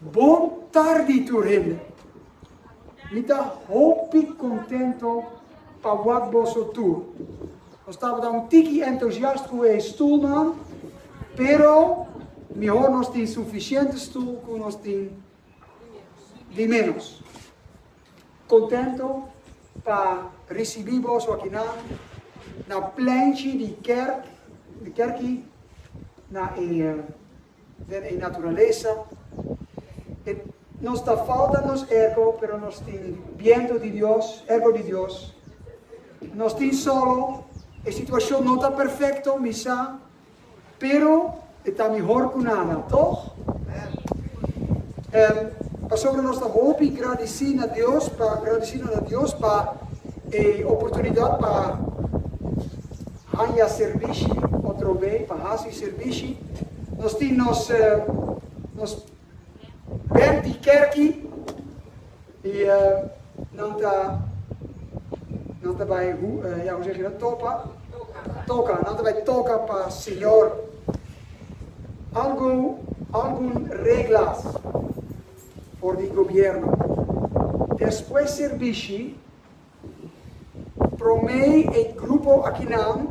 Bon tardi tur hende. Mi ta hopi contento pa wak boso tur. Nos tabata un tiki entusiast cu e stoelnan, pero mihor nos tin suficiente stoel cu nos tin di menos. Contento pa ricibi boso akinan na plenchi di kerk, di kerki na e. den e naturalesa. E nos ta falta nos erko, pero nos tin bientu di Dios, erko di Dios. Nos tin solo, e situashon no ta perfekto, mi sa, pero e ta mihor ku nada, tòg? Amen. Pasobra nos ta hopi gradisí na Dios pa, gradisido na Dios pa e oportunidat pa. Haña sirbishi otro be pa hasi sirbishi. Nos tin nos nos bènt di kèrki i nan ta nan ta bai hu ya kuse keda topa toka nan ta bai toka pa Señor. Algu algun reglas for di gobierno. Despues sirbishi. Promé e grupo akinan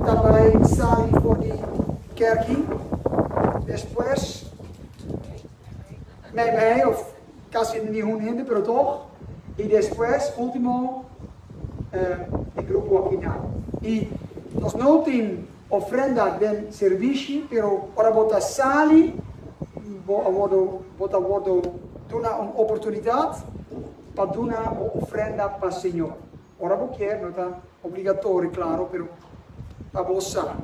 ta bai sali for di kèrki, despues mei mei òf kasi nihun hende pero tòg, i despues último e grupo akinan. I nos no tin ofrenda den sirbishi, pero ora bo ta sali bo a wordu bo ta wordu duna un oportunidat. pa duna bo ofrenda pa Señor. Ora bo kier, no ta obligatorio, claro, pero pa bo sa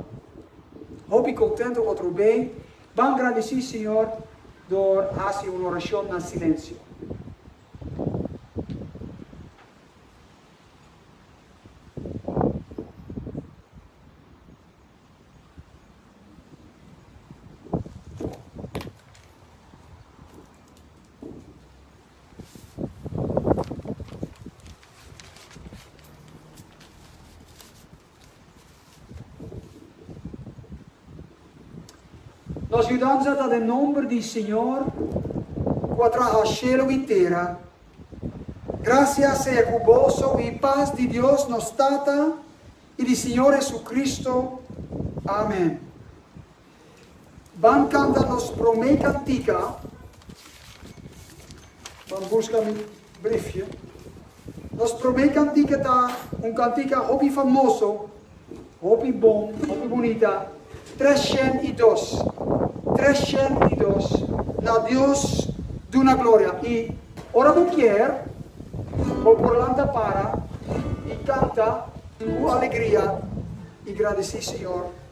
hopi contento. Otro bay ban grandeci Señor door haci un oracion na silencio. Nos yudanza ta den nomber di Señor cu a traha shelu y tera. Gracia sea cu boso y paz di Dios nos Tata y di Señor Jesucristo. Amen. Ban canta nos prome cantica. Ban busca mi briefje. Nos prome cantica ta un cantica hopi famoso, hopi bon, hopi bunita, tres shen y dos, tres shen y dos, na Dios duna gloria. Y ora bo kier, bo por lanta para y canta cu alegria y gradici Señor.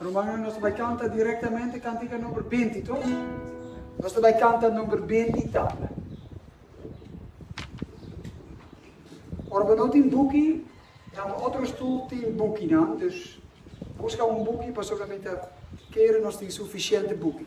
Rumannan, nos ta bai kanta direktamente kántika number binti, to. Nos ta bai kanta number binti tabla. Ora bo no tin buki, na bo otro stul tin bukinan, dus buska un buki pasobra mi ta kere nos tin sufisiente buki.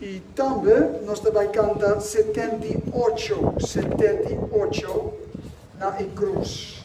I tambe nos ta bai kanta setenta i ocho, setenta i ocho na e krus.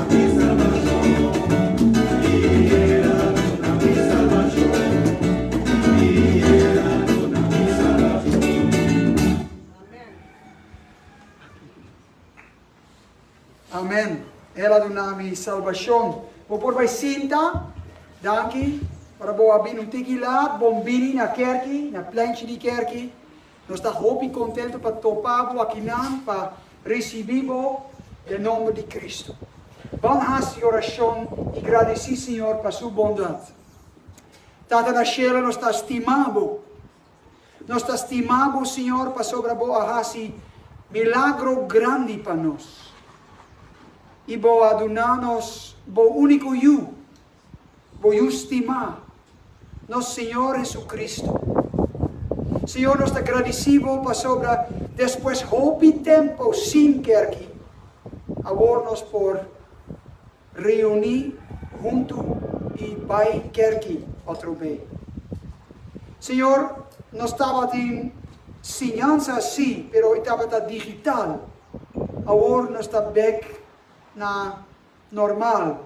Amen el a duna mi salbashon. Bo por bai sinta. Danki ora bo a bini un tiki laat. Bon bini na kerki, na plenchi di kerki. Nos ta hopi contento pa topa bo akinan pa ricibi bo den nomber di Cristo. Ban haci oracion y gradici Señor pa su bondad. Tata na Cielo nos ta stima bo. Nos ta stima bo Señor pasobra bo a haci milagro grandi pa nos y bo a duna nos bo unico Yu. Bo yu stima nos Señor Jesucristo. Señor, nos ta gradici Bo pasobra despues hopi tempo sin kerki, awor nos por reuni huntu i bai kerki otro be. Señor, nos tabatin siñansa sí, pero i tabata digital, awor nos ta bek na. normal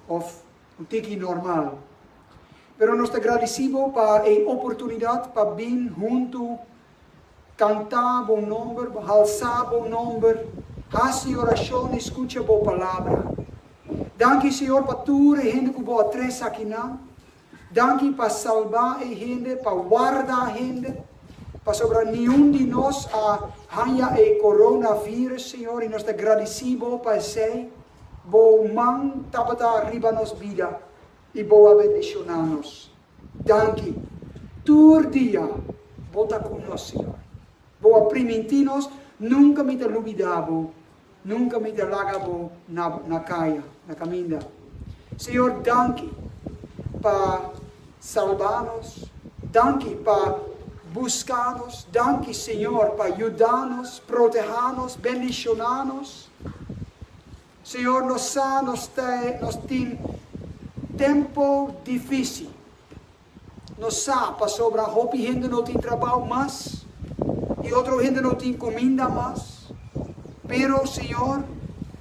of un tiki normal. Pero nos ta gradisí bo pa e oportunidat pa bin huntu kantá bo nòmber, halsá bo nòmber, hasi orashon i skucha bo palabra. Danki Señor pa tur e hende ku bo a trese akinan, Danki pa salba e hende, pa warda hende, pasobra niun di nos a hanja e coronavirus, Señor, i nos ta gradici Bo pa esei. Bo man tabata riba nos bida, i Bo a bendiciona nos. Danki. Tur dia Bo ta cu nos, Señor. Bo a priminti nos, Nunca mi ta lubida Bo. Nunka mi ta laga bo na na kaya, na kaminda. Señor, danki pa salba nos, danki pa buska nos, danki Señor pa yuda nos, proteha nos, bendishona nos. Señor, nos sa nos ta nos tin tempo difícil. Nos sa pasobra hopi hende no tin trabou mas i otro hende no tin kuminda mas. Pero, Señor,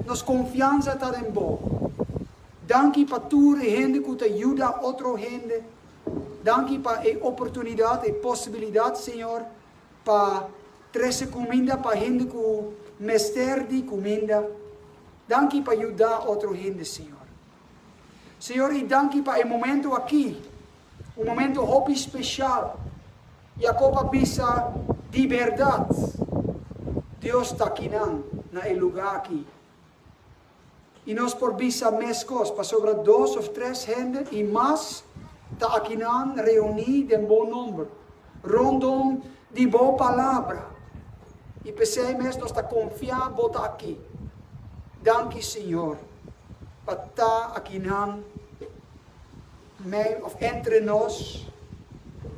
nos konfiansa ta den Bo. Danki pa tur e hende ku ta yuda otro hende. Danki pa e oportunidat, e posibilidat, Señor, pa trese kuminda pa hende ku mester di kuminda. Danki pa yuda otro hende, Señor. Señor i danki pa e momento aki, un momento hopi special. Jacob a bisa, Di berdad, Dios ta aki nan, na e luga aki. I nos por bisa mescos, pasobra dos of tres hende i mas ta aki nan reuní den bo nomber, rondom di bo palabra, i p'esei mes nos ta confia bo ta aki. Danki, Señor. pa ta akinan mei of entre nos,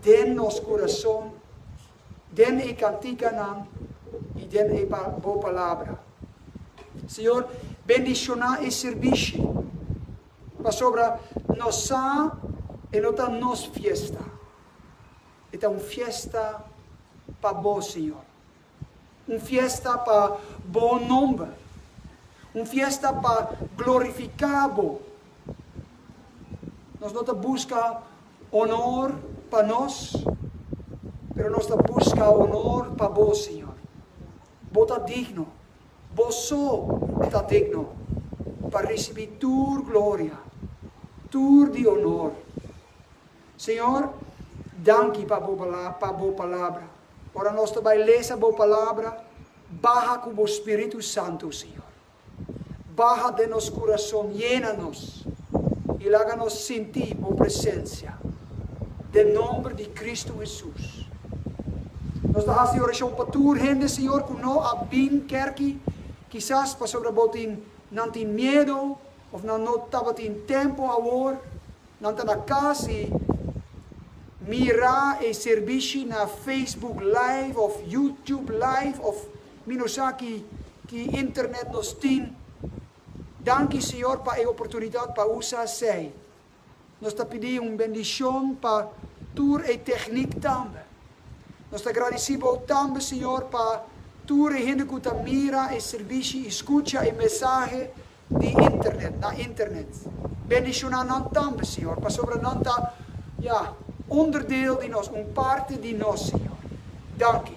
den nos kurason, den e kantikanan i den e Bo Palabra. Señor, bendishoná e sirbishi, pasobra nos sa e no ta nos fiesta, e ta un fiesta pa Bo, Señor. Un fiesta pa Bo nomber. Un fiesta pa glorifiká Bo. Nos no ta buska onor pa nos, pero nos ta buska onor pa Bo, Señor. Bo ta digno. Bo so ta digno pa risibí tur gloria, tur di onor. Señor, danki pa bo pa bo palabra. Ora nos ta bai lesa bo palabra, baha ku bo Spiritu Santu, Señor. Baha den nos kurason, yena nos i laga nos sinti bo presensia. Den nomber di Kristu Hesus. Nos ta hasi e orashon pa tur hende, Señor, ku no a bin kèrki, kisas pasobra bo tin nan tin miedu of nan no tabatin tempu awor. Nan ta na casi mira e servishi na Facebook live of YouTube live of mi no sa ki ki internet nos tin. Danki Señor pa e oportunidad pa usa esey. Nos ta pidi un bendicion pa tur e techniek tambe. Nos ta gradici Bo tambe Señor pa tur e hende cu ta mira e servishi y scucha e mesahe di internet, na internet. Bendiciona nan tambe, Señor, pasobra nan ta, ja, onderdeel di nos, un parti di nos, Señor. Danki.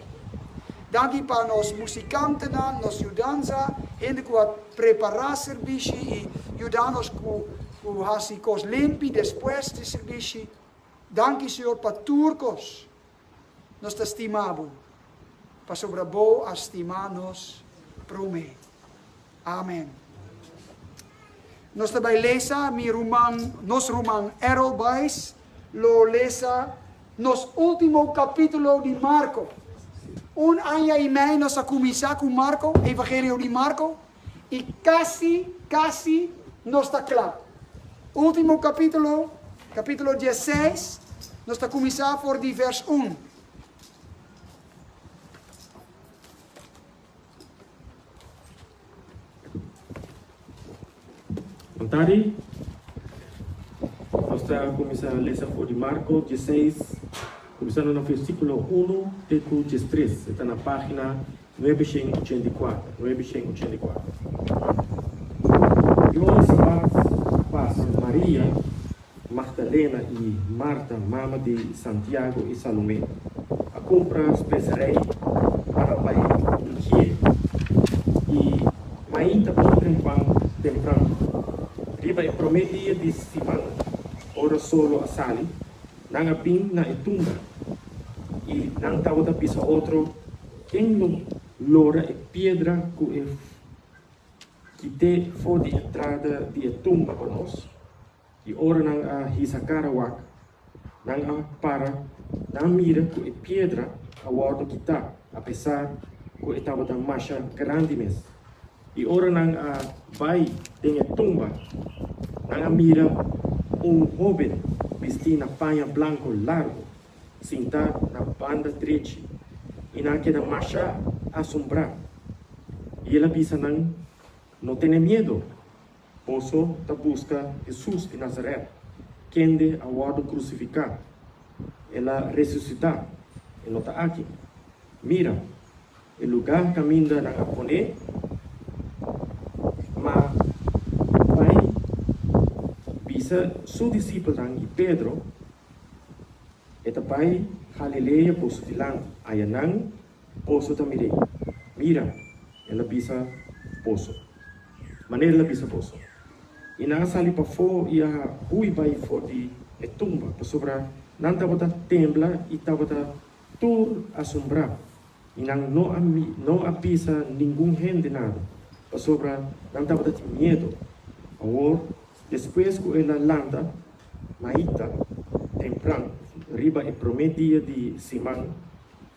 Danki pa nos musicantenan, nos yudanza, hende cu a prepara servishi y yuda nos cu, cu haci cos limpi despues di servishi. Danki, Señor, pa tur cos. Nos ta stima bo, pasobra bo a stima nos promé. Amen. Nos ta bai lesa, mi ruman, nos ruman Errol Buys lo lesa nos último kapítulo di Marko. Un aña i mei nos a kuminsá ku Marko, Evangelio di Marko. I casi, casi nos ta cla. Ultimo capitulo, capitulo diesseis, nos ta cuminsa for di vers un. Kontadi, nos ta cuminsa lesa for di Marco diesseis, cuminsando na versiculo unu te cu diestres, e ta na pagina Nuebe shen ochenta i kuater, nuebe shen ochenta i kuater. Yon sabat a pasa, Maria Magdalena i Marta, mama di Santiago i Salomé, a kumpra speserei pa ta bai ungié. I mainta bon tempan tempran, riba e promé dia di siman, ora solo a sali, Nan a bin na e tumba i nan tabata bisa otro, Ken lo lora e piedra ku e kit'é for di entrada di e tumba pa nos? I ora nan a hisa kara wak, nan a para, nan mira ku e piedra a wòrdu kitá, apesar ku e tabata masha grandi mes. I ora nan a bai den e tumba, nan a mira un hóben bistí na paña blanku largu, sintá na banda drechi, i nan a keda masha asombrá. I el a bisa nan, No tene miedu! Boso ta buska Hesus di Nazaret, kende a wòrdu krusifiká. El a resusitá, e no ta aki. Mira, e lugá kaminda nan a pon'é. Má, bai bisa su disipelnan i Pedro, e ta bai Galilea boso dilanti. Ayanan Poso ta mir'é. Mira, el a bisa poso. Manera el a bisa poso. I nan a sali pafó i a hui bai for di e tumba, pasobra nan tabata tembla i tabata tur asombrá, i nan no a no a bisa ningun hende nada, pasobra nan tabata tin miedu. Awor, despues ku el a lanta maita tempran, riba e promé dia di siman,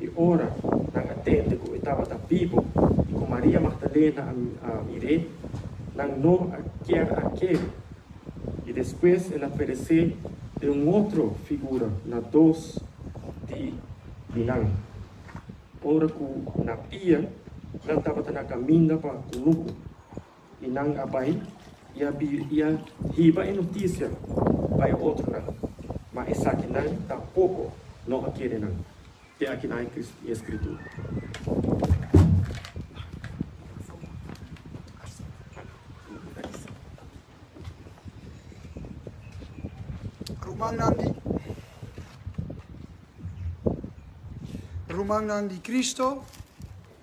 E ora nan a tende ku e tabata bibu i ku Maria Magdalena a mir'é, nan no a kier a kee. I despues el a peresé den un otro figura na dos di di nan. Ora ku na pia, nan tabata na kaminda pa Kunuku. I nan a bai i a biri i a hiba e notisia pa e otronan, ma esakinan tampoco no a kere nan. Te aki nan e Scritura. Rumannan di Rumannan di Cristo.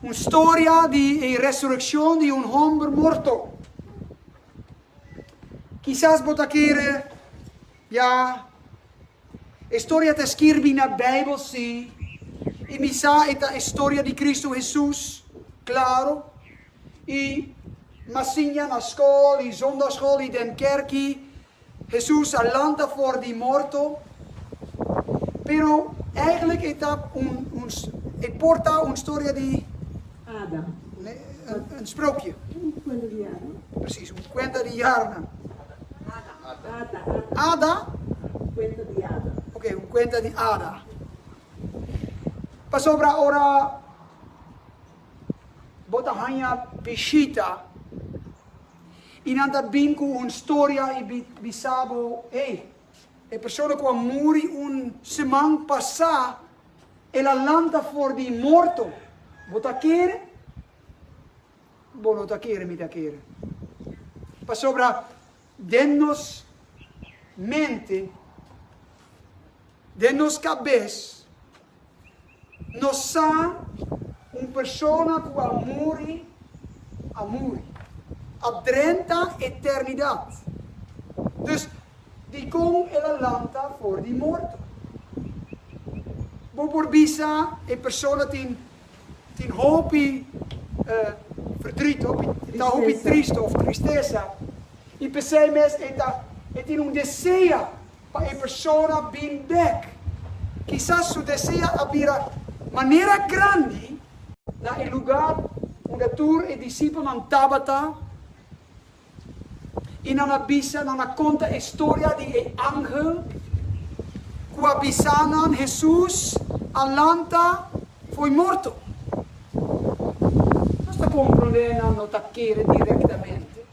Un storia di e resurekshon di un homber morto. Kisas bo ta kere, Ya, e storia ta skirbi na Beibel, sí, i mi sa e ta e storia di Kristu Hesus, klaro, i m'ha siña na skol i zondagschool i den kerki, Hesus a lanta for di morto, pero eigenlik e ta un un e por ta un storia di ada, un sprookje, un kuenta di yara, presis un kuenta di yaranan, ada, ada, un kuenta di ada, oke un kuenta di ada, pasobra ora bo ta haña bishita. I nan ta bin ku un storia i bisa bo, Hey, e persona ku a muri un seman pasá, el a lanta for di morto. Bo ta kere? Bo no ta kere, mi ta kere. Pasobra den nos mente, den nos kabes, Nos sa un persona ku a muri, a muri. A drenta eternidat. Dus, dikon el a lanta for di morto? Bo por bisa e persona tin, tin hopi verdrùt, hopi, ta hopi triste òf tristesa, i p'esei mes e ta, e tin un desea. pa e persona bin bek. Kisas su desea a bira manera grandi na e lugar unda tur e disipelnan tabata i nan a bisa, nan a konta e storia di e angel ku a bisa nan Hesus a lanta fo'i morto. Nos ta komprondé nan no ta kere direktamente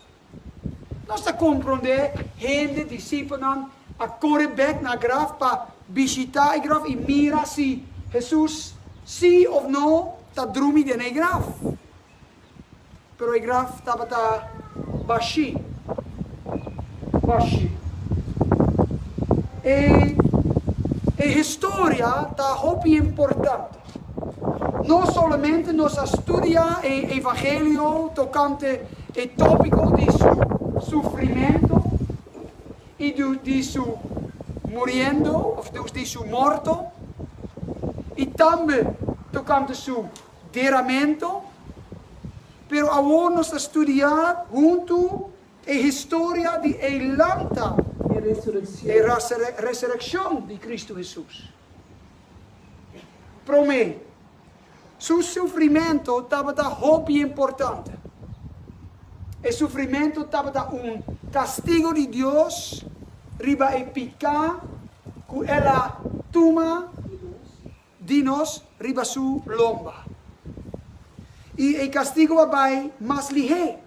Nos ta komprondé hende, disipelnan, a kore bèk na graf pa bishitá e graf i mira si Hesus sí òf no ta drumi den e graf. Pero e graf tabata bashí. Bashí. E historia ta hopi importante. No solamente nos a studia e evangelio tocante e topico di su sufrimento y di su muriendo, of di su morto, y tambe tocante su deramento, pero awor nos ta studia hunto e historia di e lanta, e resureccion di Cristo Hesus. Promé, su sufrimentu tabata hopi importante. E sufrimentu tabata un kastigu di Dios riba e piká ku el a tuma di nos riba su lomba. I e kastigu a bai mas lihé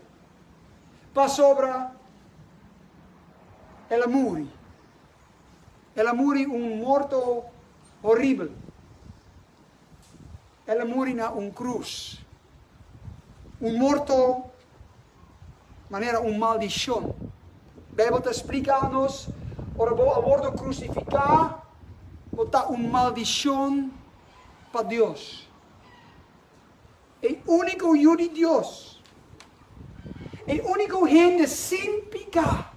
pasobra el a muri. El a muri un morto horibel. El a muri na un krus. Un morto manera un maldishon. Beibel ta splika nos, ora bo a wordo krusifiká, bo ta un maldishon pa Dios. E úniko Yu di Dios, e úniko hende sin piká,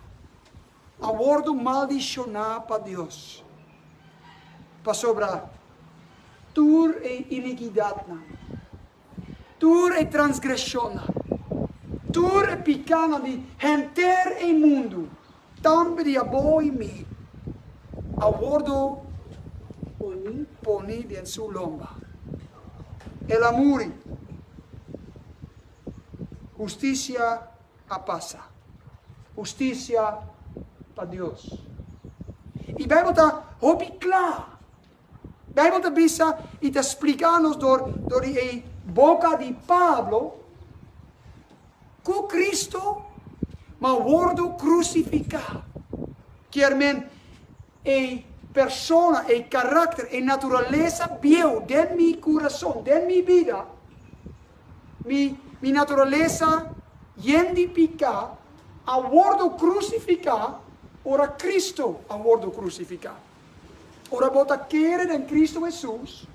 a wordu maldishoná pa Dios, pasobra tur e inikidatnan, tur e transgreshonnan, tur e pikánan di henter e mundu, tambe di abo i mi, a wordu poni den su lomba. El a muri, hustisia. a pasa. Husticia pa Dios. I Bijbel ta hopi cla. Bijbel ta bisa i ta splica nos door di e boca di Pablo cu Cristo ma wordo crucifica. Kier men e persona, e caracter, e naturalesa bieu den mi curason, den mi bida, Mi, mi naturalesa yen di piká a wordo krusifiká ora Kristu a wordo krusifiká. Ora bo ta kere den Kristu Hesus,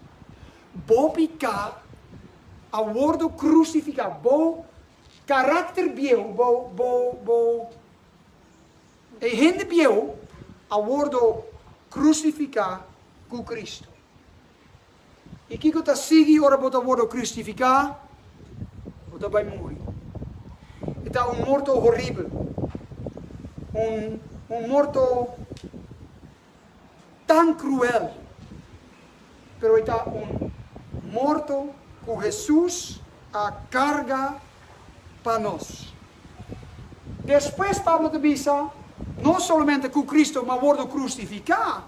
bo piká a wordo krusifiká, bo karakter bieu, bo, bo, bo e hende bieu a wordo krusifiká ku Kristu. I kiko ta sigui ora bo ta wordo kristifiká? Bo ta bai muri. E ta un morto horibel, un un morto tan kruel, pero e ta un morto ku Hesus a karga pa nos. Despues Pablo ta bisa, No solamente ku Kristu m'a wordo krustifiká,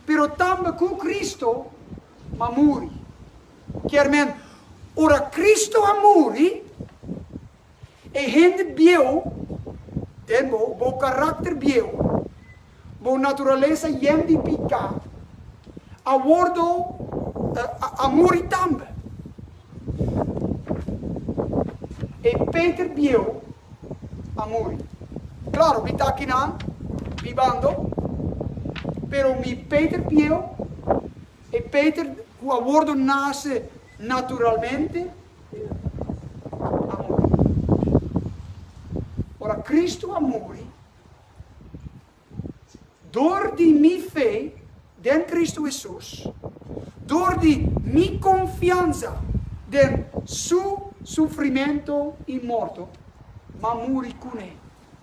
pero tambe ku Kristu a muri. Kier men, ora Kristu a muri, e hende bieu den bo, bo karakter bieu, bo naturalesa yen di piká, a wòrdu, a muri tambe. E Peter bieu a muri. Claro, mi ta kina mi bando, pero mi Peter bieu, e Peter cu a wordo nace naturalmente, a muri. Ora Cristo a muri, Dor di mi fe den Kristu Hesus, dor di mi konfiansa den Su sufrimentu i morto, m'a muri kuné.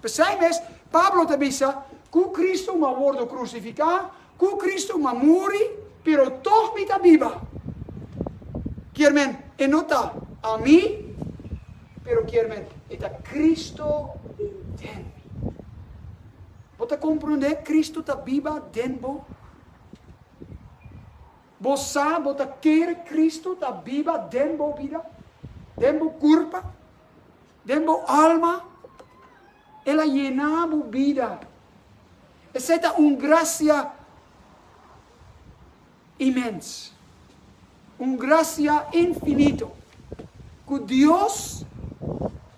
P'esei mes, Pablo ta bisa, Ku Kristu m'a wordu krusifiká, Cu Cristo ma muri, pero tog mi ta biba. Kier men, e no ta ami, pero kier men, e ta Cristo den den mi. Bo ta comprende? Cristo ta biba den bo. Bo sa bo ta kere Cristo ta biba den bo bida, den bo curpa. Den bo alma, el a yená bo bida. Esei ta un grasia imens, un grasia infinito ku Dios,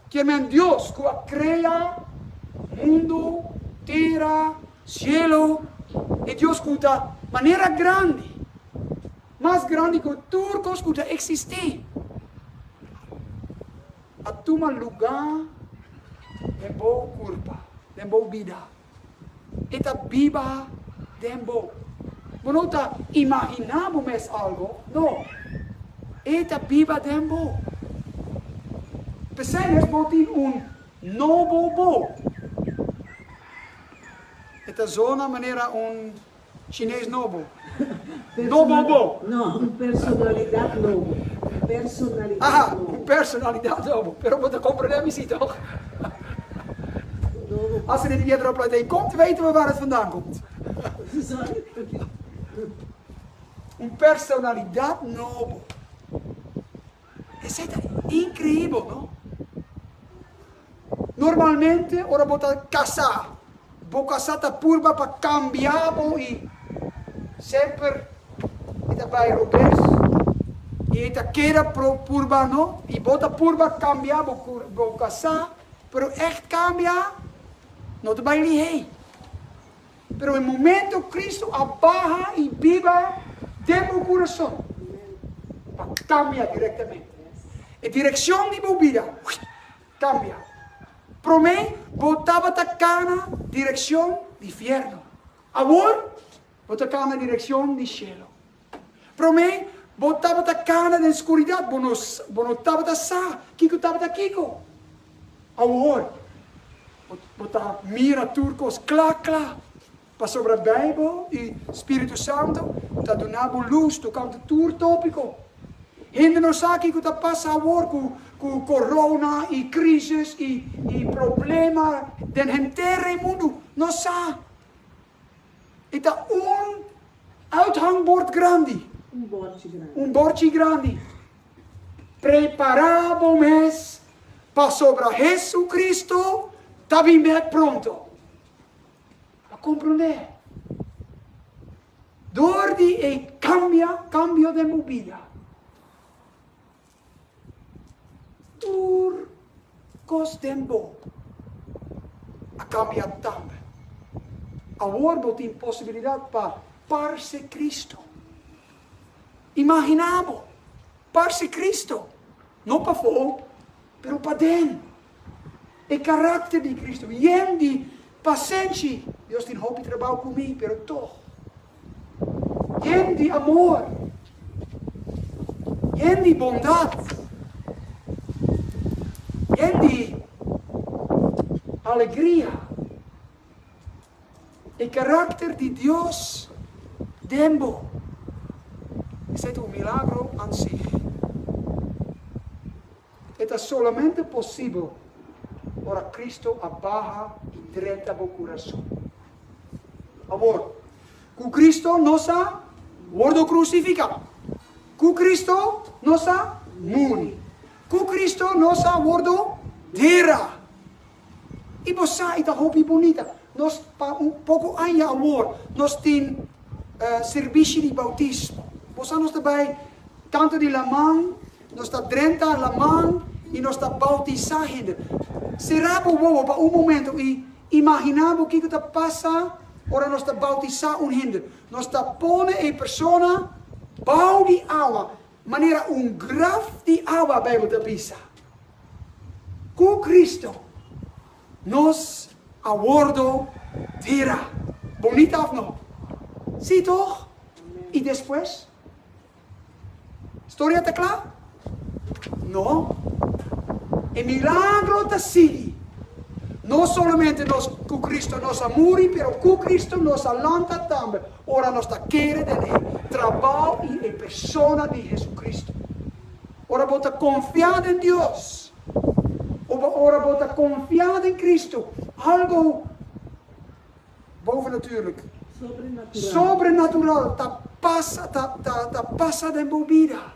kiemen Dios ku a krea mundu, tera, shelu, e Dios ku ta manera grandi, mas grandi ku tur kos ku ta eksistí. a tuma lugá den bo kurpa, den bo bida. E ta biba den bo. Bo no ta imaginá bo mes algo, no. E ta biba den bo. P'esei mes bo tin un nobo bo. E ta zona manera un. Chinés nobo. No bobo. No, un personalidad nobo. Personalidad nobo. Aha, un personalidad nobo. Pero bo ta comprende mi si toch? Hasi den piedra op plantei. Kom te weten we waar het vandaan komt? Un personalidad nobo. Esei ta increibel no. Normalmente ora bo ta casá, bo casá ta purba pa cambia bo i semper e ta bai robes i e ta keda purba no. I bo ta purba cambia bo bo casá pero echt cambia no ta bai lihei. Pero e momento Cristo a baha y biba den bo curason, ta cambia directamente. E direccion di bo bida cambia. Prome bo tabata cana direccion di fierno, awor bo ta cana direccion di cielo. Promé, bo tabata kana den skuridat, bo no bo no tabata sa kiko tabata kiko. Awor, bo bo ta mira tur kos kla kla, pasobra Beibel i Spiritu Santu ta duna bo lus tokante tur topiko. Hende no sa kiko ta pasa awor ku ku korona i krisis i i problema den henter e mundu. No sa. E ta un uithangbord grandi, un bordchi grandi, prepará bo mes, pasobra Hesukristu ta bin bèk pronto. A komprondé? Dor di e kambia, kambio den bo bida. Tur kos den bo a kambia tambe. Awor bo tin posibilidat pa parse Kristu. Imaginá bo parse Kristu, no pafó, pero paden. E karakter di Kristu, yen di pasenshi, Dios tin hopi trabou ku mi, pero tog, yen di amor, yen di bondat, yen di alegria. E karakter di Dios den bo, esei ta un milagro ansig. E ta solamente posibel ora Cristo a baha y drenta bo curason. Awor, cu Cristo nos a wordo crucifica, cu Cristo nos a muri, cu Cristo nos a wordo dera, I bo sa, i ta hopi bunita. Nos, pa un poco aña awor, nos tin servishi di bautismo. Bo sa, nos ta bai tanto di laman, nos ta drenta laman, i nos ta bautisa hende. Sera bo wowo pa un momento i imagina bo kico ta pasa ora nos ta bautisa un hende. Nos ta pone e persona bao di awa. Manera un graf di awa, Bijbel ta bisa, Ku Kristu nos a wordo tera. Bonita òf no? Sí tòg? I despues? Storia ta kla? No. E milagro ta sigui. No solamente nos ku Kristu nos a muri, pero ku Kristu nos a lanta tambe. Ora nos ta kere den e trabao i e persona di JesuCristo. Ora bo ta konfia den Dios, o bo ora bo ta konfia den Cristo, algo bovenatuurlijk, sobrenatural, ta pasa ta pasa den bo bida.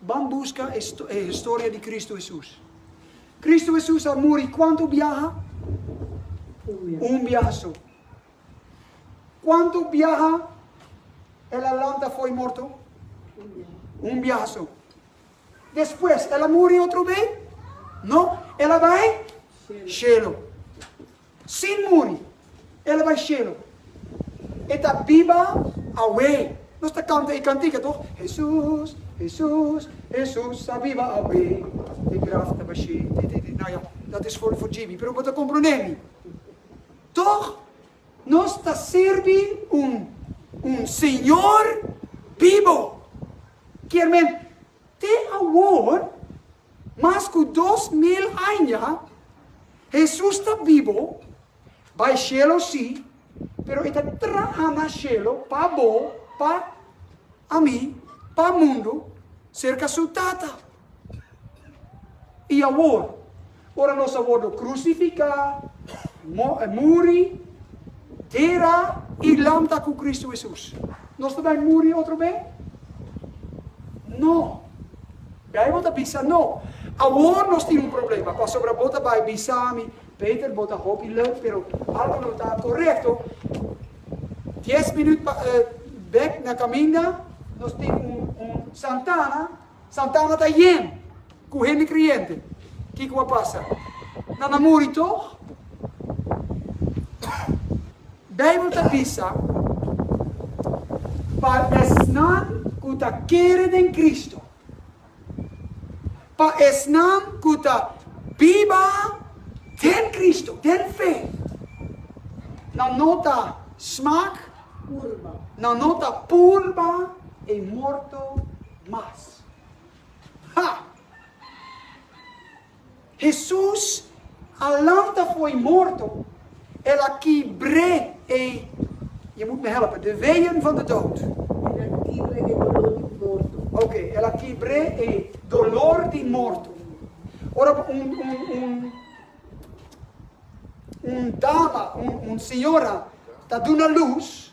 Ban buska e historia di Kristu Hesus. Kristu Hesus a muri kuantu biaha? Un biaha so. Kuantu biaha el a lanta fo'i morto? Un biaha so. Despues el a muri otro bei? No, el a bai shelo. Sin muri, el a bai shelu. E ta biba awe. Nos ta kanta e kantika toch? Hesus, Hesus, Hesus a biba awe, e graf ta bash'é, ti ti ti. Nou ja, dat is for Jimmy, pero bo ta komprondé mi. Toch nos ta sirbi un un Señor bibo. Kiermen, Te awor, mas ku dos mil aña, Hesus ta bibo, bai shelu si, pero e ta traha na shelu pa bo, pa ami, pa mundu, serka su Tata. I awor. Ora nos a wordo crucifica, muri, dera y lanta cu Cristo Hesus, nos ta bay muri otro be? No. Bijbel ta bisa no. Awor nos tin un problema, pasobra bo ta bay bisa mi, Peter, bo ta hopi lef, pero algo no ta corecto. Dies minuut bek na caminda, nos tin un Santana, Satana ta yen ku hende kreyente. Kiko a pasa? Nan a muri tog? Beibel ta bisa, Pa esnan ku ta kere den Kristu, pa esnan ku ta biba den Kristu, den fe, nan no ta smak, nan no ta purba e morto mas. Ha! Hesus a lanta fo'i morto, El a kibr'é e, je moet me helpen, de weeën van de dood. El a kibr'é e dolor di morto. Oké, El a kibr'é e dolor di morto. Ora bo un, un, un, un dama, un, un señora ta duna luz,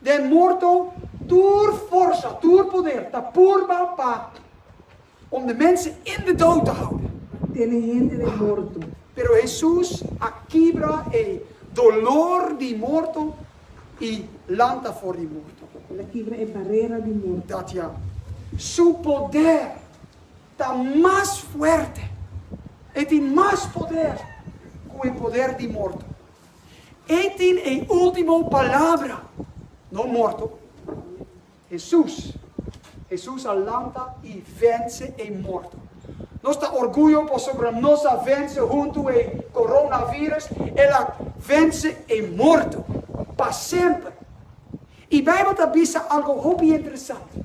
Den morto tur forsa, tur poder ta purba pa om de mense in de dout ta houde. Tene hende den morto. Pero Hesus a kibra e dolor di morto i lanta for di morto. El a kibra e barera di morto. Dat ya. Su poder ta mas fuerte. E tin mas poder ku e poder di morto. E tin e ultimo palabra, no morto. Hesus. Hesus a lanta i vense e morto. Nos ta orguyo pasobra nos a vense huntu e coronavirus, el a vense e morto pa semper. I Bijbel ta bisa algo hopi interesante.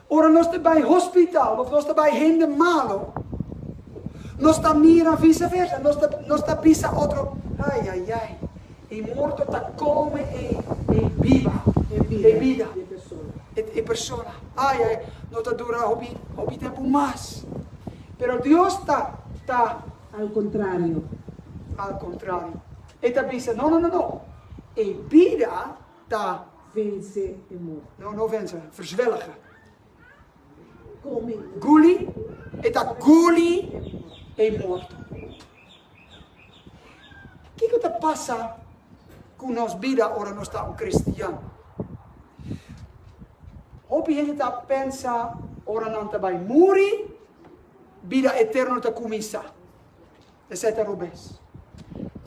Ora nos ta bai hospital of nos ta bai hende malo, nos ta mira viceversa, nos ta nos ta bisa otro, Ai, ai, ai, e morto ta come e e biba, e bida, e e persona, ai, ai, no ta dura hopi hopi tempu mas. Pero Dios ta ta. Al contrario. Al contrario. E ta bisa, No, no, no, no, e bida. Ta vence e morte. No, no vence, verzwelge. Come. Guli, e ta guli e morte. Kico ta pasa cu nos bida ora nos ta un cristian? Hopi hende ta pensa ora nan ta bay muri, bida eterno ta cuminsa. Esei ta robes.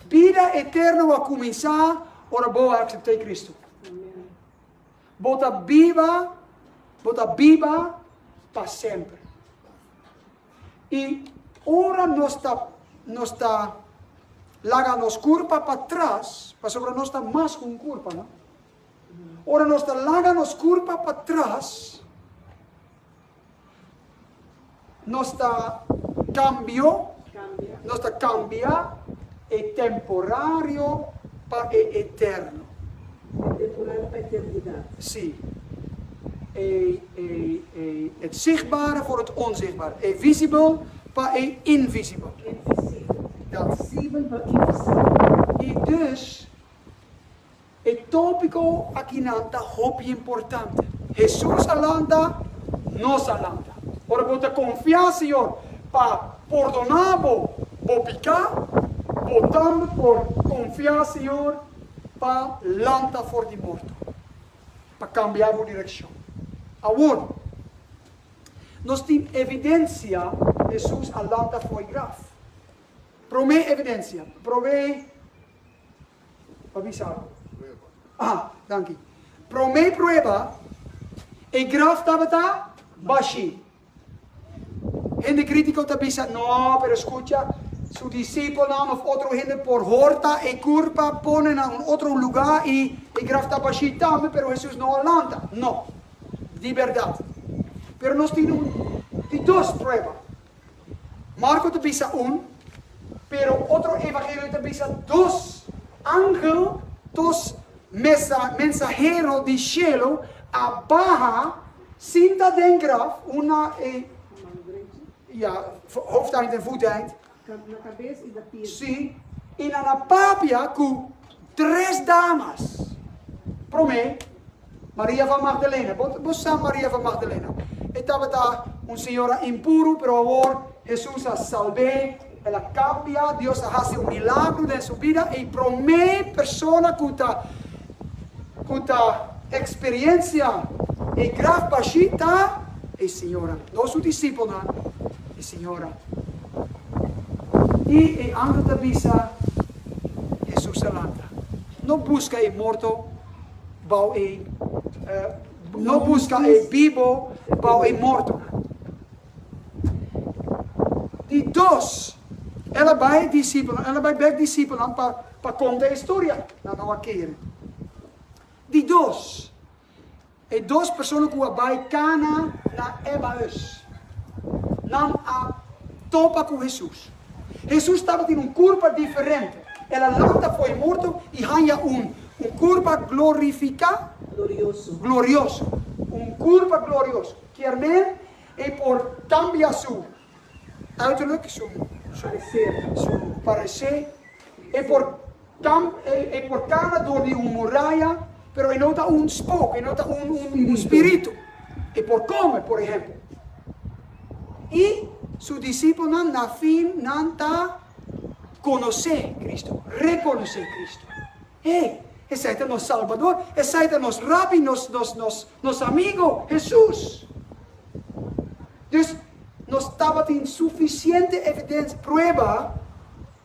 Bida eterno a kuminsá ora bo a aksept'ei Kristu. Bo ta biba, bo ta biba pa semper. I ora nos ta nos ta laga nos kurpa patras, pasobra nos ta mas ku un kurpa, no? Ora nos ta laga nos kurpa patras, Nos ta cambio, nos ta cambia e temporario pa e eterno. E temporario pa eternidad. Si. E, e, e, het zichtbare voor het onzichtbare. E visibel pa e invisibel. E visibel. Ja. Visibel pa invisibel. I dus, E tópiko akinan ta hopi importante. Hesus a lanta, nos a lanta. Ora bo ta konfiá Señor pa pordoná bo bo piká, bo tambe por konfiá Señor pa lanta for di morto, pa kambiá bo direkshon. Awor, nos tin evidensia Hesus a lanta fo'i graf. Promé evidensia, prob'é Pa bisa bo. Aha, danki. Promé prueba, e graf tabata bashí. Hende kritiko ta bisa, No, pero skucha, su disipelnan òf otro hende por horta e kurpa, pone na un otro lugá i e graf ta bashí tambe, pero Hesus no a lanta. No. Di bèrdat. Pero nos tin un di dos prueba. Marco ta bisa un, pero otro evangelio ta bisa dos angel tos mensahero di shelo a baha sinta den graf una e hoofdeind en voeteind si y nan a papia cu tres damas prome Maria van Magdalena. Bo sa Maria van Magdalena? E tabata un señora impuru, pero awor Hesus a salb'é, el a kambia, Dios a hasi un milagro den su bida, i promé persona ku ta ku ta eksperiencia e graf bashí ta e señora, no su disipelnan, e señora. I e angel ta bisa, Hesus a lanta. No buska e morto. bou e no buska e bibo bou e mortonan. Di dos, el a bai e disipelnan, el a bai bek disipelnan pa pa konta e historia, nan no a kere. Di dos, e dos persona ku a bai kana na Emaús, nan a topa ku Hesus. Hesus tabatin un kurpa diferente. El a lanta fo'i morto i haña un un kurpa glorifiká, glorioso, un kurpa glorioso. Kier men e por kambia su uiterlijk, su paresé, e por Kamp e portaba dor di un muraya, pero e no ta un spoko, e no ta un spiritu. E por kome, por ehempel. I su disipelnan na fin nan ta konosé Kristu, rekonosé Kristu. Hey, esei ta nos Salbador, esei ta nos Rabbi, nos amigo, Hesus. Dus nos tabatin sufisiente evidensia, prueba,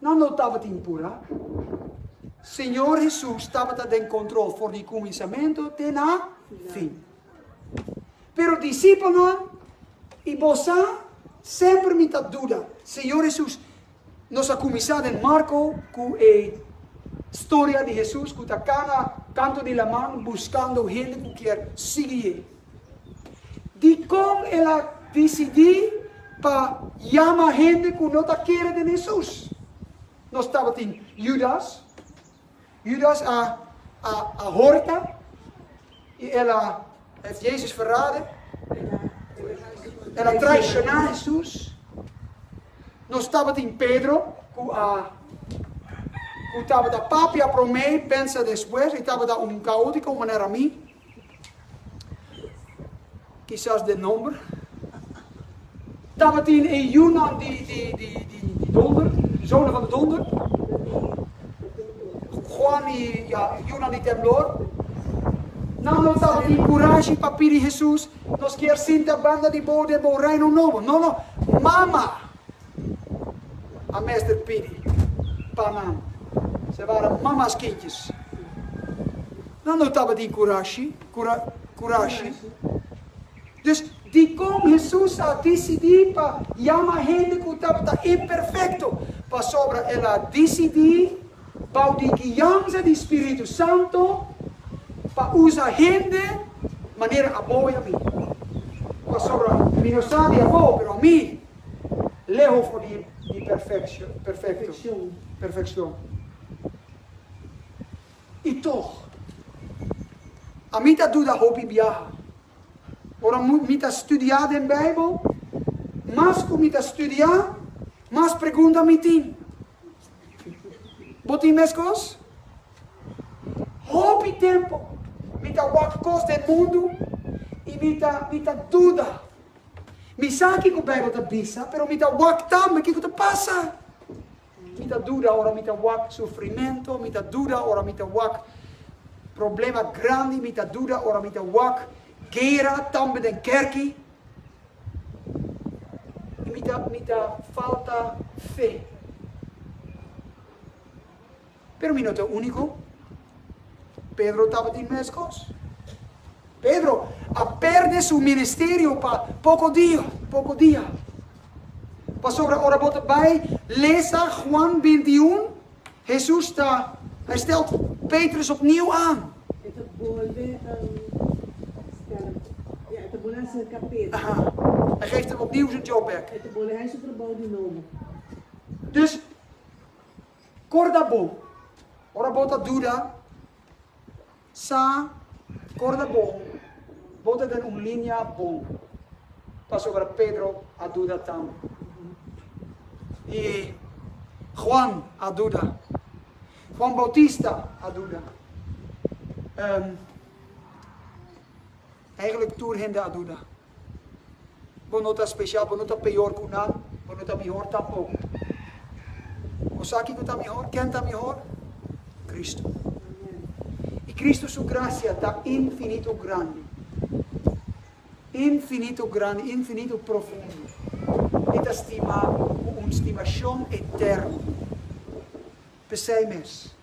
Nan lo tabatin pura. Señor Hesus tabata den control for di cuminsamentu te na fin. Pero disipelnan y bo sa, semper mi ta duda, Señor Hesus, nos a cuminsa den Marco cu e storia di Hesus cu ta cana canto di laman buscando hende cu kier sigui ye. Dikon el a disidí pa yama hende ku no ta kere den Hesus? Nos tabatin Yudas. Yudas a horta i el a Jezus verrade. El a traishoná Hesus. Nos tabatin Pedro, ku tabata papia promé, pensa despues, i tabata un kaótiko manera mi. Kisas den nomber. Tabatin e yunan di, di, di, di, di donder, di zona van de donder. Juan i ja, yunan di temblor. Nan no tabatin kurashi pa pidi Jesus, Nos kier sinta banda di bo den bo reino nobo. No, no. Mama, a mester pidi pa nan sebara mamas kintjes. Nan no tabatin kurashi, kura, kurashi. Dus, dikon Hesus a disidí pa yama hende ku tabata imperfekto? Pasobra el a disidí, bou di guiansa di spiritu santu, pa usa hende manera abo i ami. Pasobra mi no sa di abo, pero ami. leho for di perfeccion. I toch, a mi ta duda hopi biaha. Ora mi ta studia den Bijbel, mas cu mi ta studia, mas pregunta mi tin. Bo tin mescos? Hopi tempo mi ta wak cos den mundu i mi ta duda. Mi sa kiko Bijbel ta bisa, pero mi ta wak tambe kiko ta pasa. Mi ta duda ora mi ta wak sufrimentu, mi ta duda ora mi ta wak problema grandi, mi ta duda ora mi ta wak gera tambe den kerki, i mi ta mi ta falta fe. Pero mi no ta úniko. Pedro tabatin meskos. Pedro a pèrdè su ministerio pa poko dia, poko dia. Pasobra ora bo ta bai lesa Juan bintiún, Hesus ta, Hij stelt Petrus opnieuw aan. E ta bolbe stèl, ja, e ta bolbe aserka Pedro. Aha. E geeft hem opnieuw zijn job bèk. E ta bolbe hai su trabou di nobo. Dus. Corda bo, ora bo ta duda, sa corda bo, bo ta den un linea bon, pasobra Pedro a duda tam, y Juan a duda, Juan Bautista a duda, eigenlijk tur hende a duda. Bo no ta special, bo no ta peor cu nan, bo no ta mihor tampoco. Osaki cu ta mihor? Ken ta mihor? Cristo. Y Cristo su gracia ta infinito grandi, infinito grandi, infinito profundo. E ta stima cu un stimacion eterno. P'esei mes,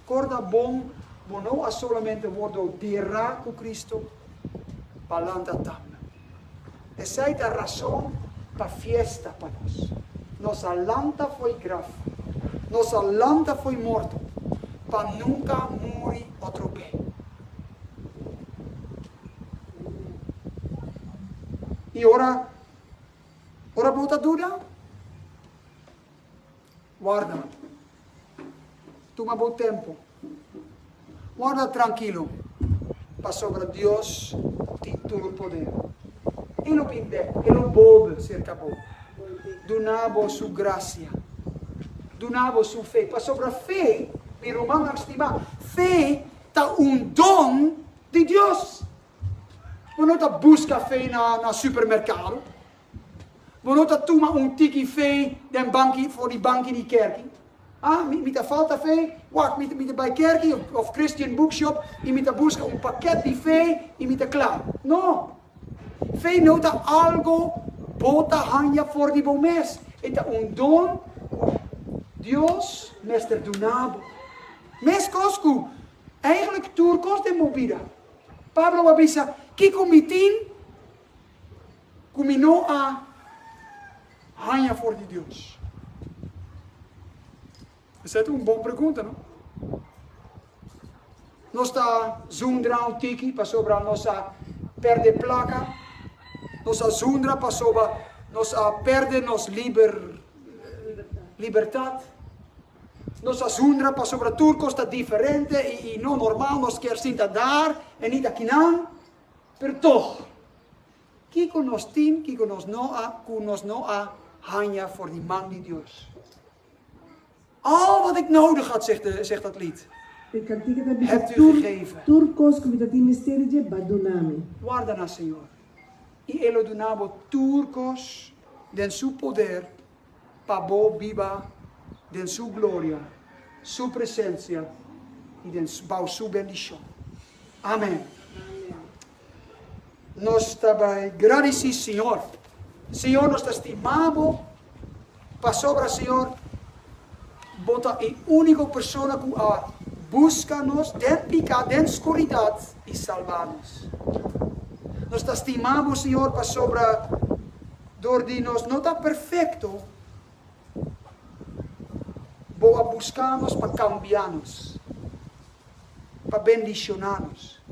korda bon, bo no a solamente wordo bira ku Kristu, pa lanta tambe. Esei ta rason pa fiesta pa nos. Nos a lanta fo'i graf, nos a lanta fo'i morto, pa nunka muri otro be. I ora, ora bo ta duda? Warda. Tuma bo tempu. Warda trankilo, pasobra Dios tin tur podé. E lo bin dek, e lo bolbe serka bo, duna bo su grasia, duna bo su fe, pasobra fe, mi rumannan stimá, fe ta un don di Dios. Bo no ta buska fe na supermerkado. Bo no ta tuma un tiki fe den banki, for di banki di kerki. A, mi ta falta fe, wak, mi ta bai kerki of Christian Bookshop i mi ta buska un pakèt di fe i mi ta kla. No! Fe no ta algo bo ta haña for di bo mes. E ta un don ku Dios mester duna bo. Meskos ku, eigentlik tur kos den bo bida, Pablo a bisa, Kiko mi tin ku mi no a haña for di Dios? Esei ta un bon pregunta, no? Nos ta zundra un tiki pasobra nos a pèrdè plaka, nos a zundra pasobra nos a pèrdè nos liber, libertat. Nos a zundra pasobra tur kos ta diferente i no normal, nos kier sinta dar e ni ta kinan. Pero tog, kiko nos tin, kiko nos no a ku nos no a haña for di man di Dios? Al wat ik nodig had, zegt de, zegt dat lied, E kantika ta bisa, Hebt u tur, gegeven. tur kos ku mi ta tin mester di dje, Ba duna mi. Warda na Señor, i E lo duna bo tur kos den Su poder pa bo biba den su gloria, su presencia y den bao su bendicion. Amen. Nos ta bay gradici Señor. Señor nos ta stima bo pasobra Señor bo ta e unico persona cu a busca nos den pica, den scuridad y salba nos. Nos ta stima bo Señor pasobra Dor di nos no ta perfecto, Bo a busca nos pa cambia nos, pa bendiciona nos.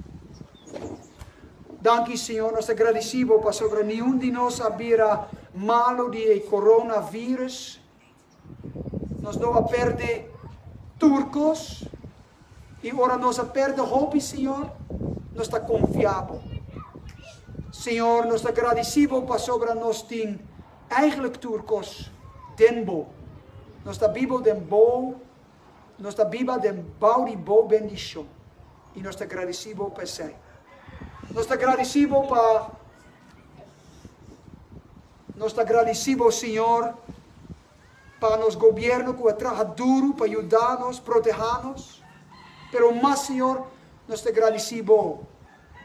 Danki, Señor, nos ta gradici Bo pasobra niun di nos a bira malo di e coronavirus, Nos lo a perde tur kos, i ora nos a perde hopi, Señor, nos ta konfia Bo. Señor, nos ta gradisí Bo pasobra nos tin eigentlik tur kos den Bo. Nos ta biba den Bo, nos ta biba den bou di Bo bendishon, i nos ta gradisí Bo p'esei. Nos ta gradisí Bo pa Nos ta gradici bo, Señor, pa nos gobierno cu a traha duru pa yuda nos, proteha nos. Pero mas, Señor, nos ta gradici bo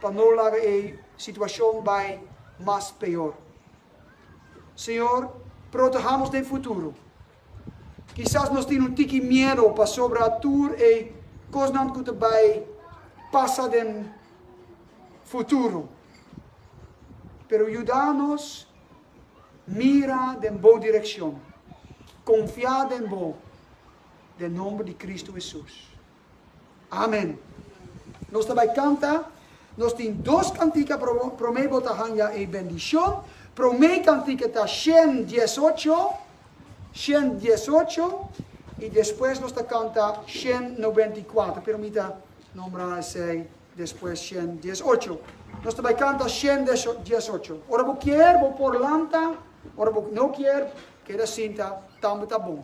pa no laga e situacion bay mas peor. Señor, protehamos den futuro. Kisas nos tin un tiki miedo pasobra tur e kosnan ku ta bai pasa den futuro. Pero yuda nos mira den Bo direkshon, konfiá den Bo, den nomber di Kristu Hesus. Amen. Nos ta bai kanta. Nos tin dos kantika promé bo ta hanja e bendishon. Promé kantika ta shen dies ocho, shen dies ocho, i despues nos ta kanta shen noventa i kuater, pero mi ta nombra esei despues shen dies ocho. Nos ta bai kanta shen dies ocho. Ora bo kier bo por lanta, ora bo no kier keda sinta tambe ta bon.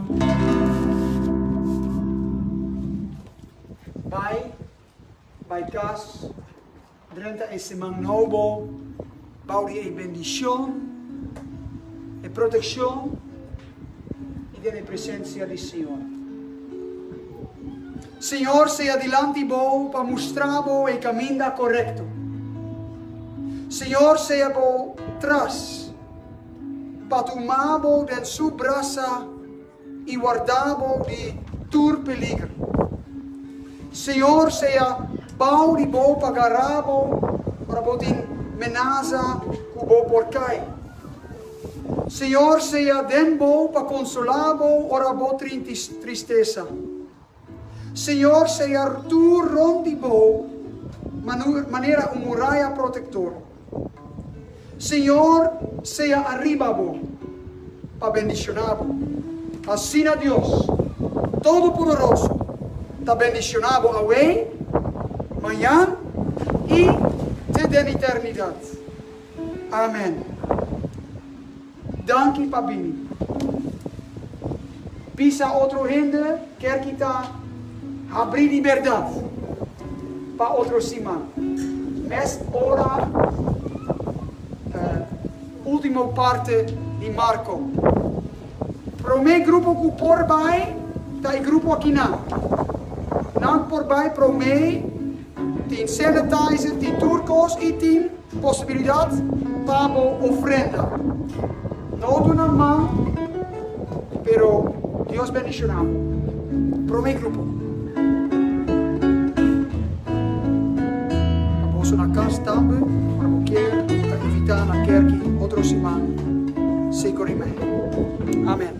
Bai, bai kas, drenta e siman nobo bou di e bendishon, e protekshon i den e presensia di Señor. Señor sea dilanti bou pa mustra bo e kaminda korekto. Señor sea bou tras. pa tuma bo den su brasa i warda bo di tur peliger. Señor sea bou di bo pa gará bo ora bo tin menasa ku bo por kai. Señor sea den bo pa konsolá bo ora bo trinti tristesa. Señor sea tur rond di bo manera un muraya protector. Señor sea ariba bo pa bendiciona bo. Asina Dios Todopoderoso ta bendiciona bo awe, mayan y te den eternidad. Amen. Danki pa bini. Pisa otro hende ker kita habri di berdad pa otro siman. Mes ora ultimo parte di Marko. Prome grupo ku por bai ta e grupo akinan. Nan por bai prome. Tin sanitizer, tin tur kos y tin posibilidad pa bo ofrenda. No duna man, pero Dios bendiciona bo. Prome grupo. Pa boso na cas tambe, ora bo kier, bo ta invita na kerky otro siman, sico rimen. Amen.